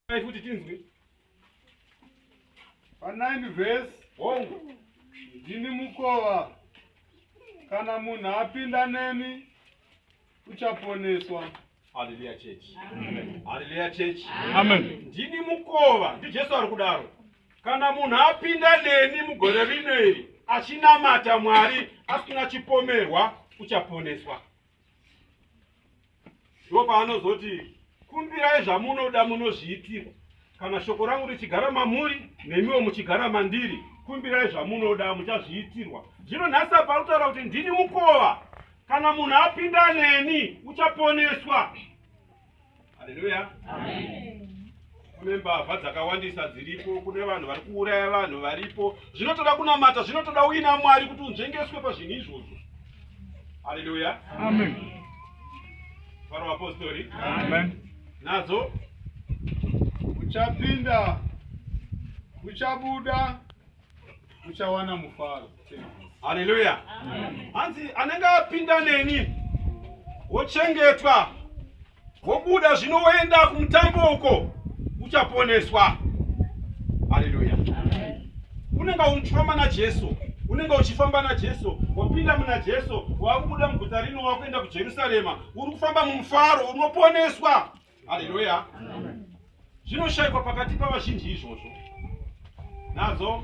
Dai futi tinzwe. Pa 9 verse hongu ndini mukova kana munhu apinda neni uchaponeswa. Hallelujah church. Amen. Hallelujah church. Amen. Ndini mukova, ndiJesu ari kudaro. Kana munhu apinda neni mugore rino iri achinamata Mwari asina chipomerwa uchaponeswa. ndipo paanozoti kumbirai zvamunoda munozviitirwa kana shoko rangu richigara mamuri nemiwo muchigara mandiri kumbirai zvamunoda muchazviitirwa zvino nhasi apa anotaura kuti ndini mukova kana munhu apinda neni uchaponeswa Haleluya. Kune mbavha dzakawandisa dziripo, kune vanhu vari kuuraya vanhu varipo. Zvinotoda kunamata, zvinotoda uina Mwari kuti unzvengeswe pazvinhu izvozvo. Haleluya. Amen. Faro vapostori. Amen. Nadzo uchapinda uchabuda muchawana mufaro haleluya hanzi anenge apinda neni wochengetwa wobuda zvino woenda kumutambo uko uchaponeswa haleluya unenge uchifamba najesu unenge uchifamba najesu wapinda muna jesu wakubuda muguta rino wakuenda kujerusarema uri kufamba mumufaro unoponeswa haleluya zvinoshaikwa pakati pavazhinji izvozvo nadzo